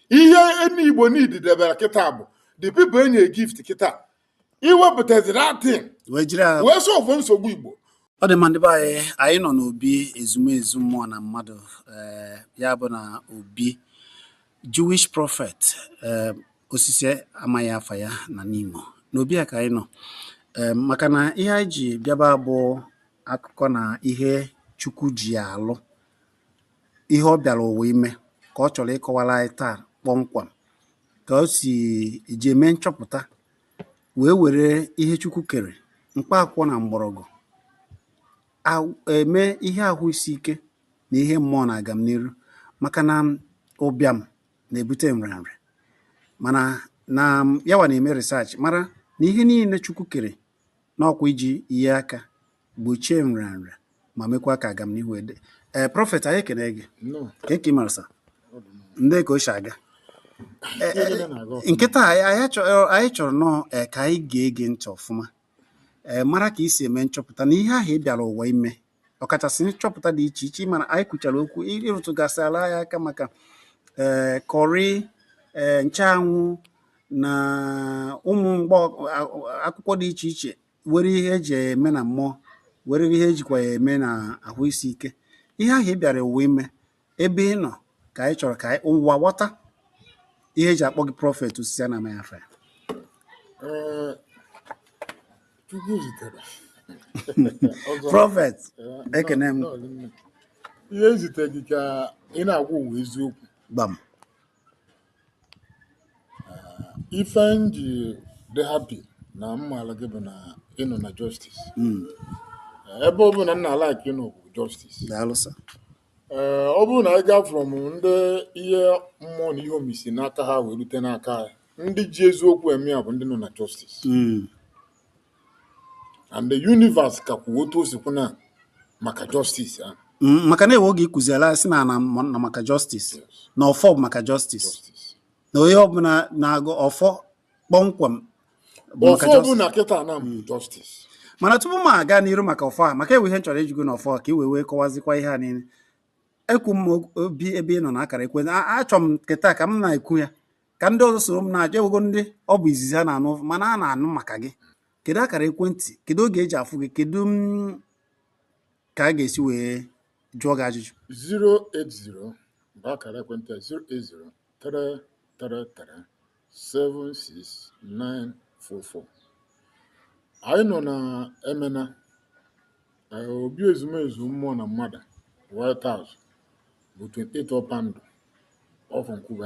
ihe ndị igbo need debere kịta bụ the people enye gift kịta iwepụtazi that thing wee jiri ya wee solve nsogbu igbo ọ dị mma ndị be anyị anyị nọ n'obi ezumezu mmụọ na mmadụ eh, ya bụ na obi jewish prophet eh, osisi amaghị afa ya na nimo n'obi a ka anyị nọ Eh, maka na ihe anyị ji bịaba bụ akụkọ na ihe chukwu ji alụ ihe ọ bịara ụwa ime ka ọ chọrọ ịkọwara anyị taa kpọmkwem ka o si eji eme nchọpụta wee were ihe Chukwu kere mkpa akwụkwọ na mgbọrọgwụ eme ihe ahụ isi ike na ihe mmụọ na agamniru maka na ụbịam na-ebute nrịanrịa mana na ya wa na-eme research mara na ihe niile Chukwu kere na ọ kwa iji nye aka gbochie nrịanrịa ma mekwaa ka agamnihu wee dị ee prophet anyị ekene gị Nnọọ, kee ka i mere sir ọ dị mma. ndị ka o si aga Ee, Ihe niile na-aga ọfụma. kịta a, anyị anyị chọrọ anyị chọrọ nnọọ ee, ka anyị ga-ege ntị ọfụma ee mara ka i si eme nchọpụta na ihe ahụ ị bịara ụwa ime ọkachasị nchọpụta dị iche iche mana anyị kwuchara okwu ị rụtụgasịala ya aka maka ee curry ee nchanwụ na ụmụ mgbọ a- akwụkwọ dị iche iche nwere ihe e ji eme na mmụọ nwere ihe e jikwa ya eme na ahụ isi ike ihe ahụ ị bịara ụwa ime ebe ị nọ ka anyị chọrọ ka ụwa ghọta ihe e ji akpọ gị prophet osisi a na-amaghị afa ya prophet ekene m ihe ezite gị ka ị na-agwa ụwa eziokwu gbam ife m ji dị happy na m maala gị bụ na ị nọ na justice hmm. ebe ọ bụ na n'alaka ị nọ bụ justice ee ọ bụrụ na anyị gaa from ndị ihe mmụọ na ihe omimi si n'aka ha wee rute n'aka anyị ndị ji eziokwu eme ya bụ ndị nọ na justice hmm. and the universe ka kwuo otu o si kwu na maka justice ahụ Mm, maka na e nwe oge ị kụziela sị na na mọ- na maka justice yes na ọfọ bụ maka justice justice na onye ọbụla na-agọ ọfọ kpọmkwem bụ maka ọfọ justice ọbụla kịta na bụ justice mana tupu m aga n'iru maka ọfọ a maka e nwe ihe m chọrọ ịjụ gị na ọfọ a ka i wee wee kọwazikwa ihe a niile ekwu m obi ebe ị nọ na akara ekwe achọ m kịta ka m na-ekwu ya ka ndị ọzọ soro m na-ajụ enwego ndị ọ bụ izizi a na-anụ mana a na-anụ maka gị kedu akara ekwentị kedu oge eji afụ gị kedu mm, ka a ga-esi wee jụọ gị ajụjụ 080 bụ akara ekwentị 080 333 76944 anyị nọ na emena eh, obi ezumezu mmụọ na mmadụ white house bụ 28 ọkpandụ off nkwuba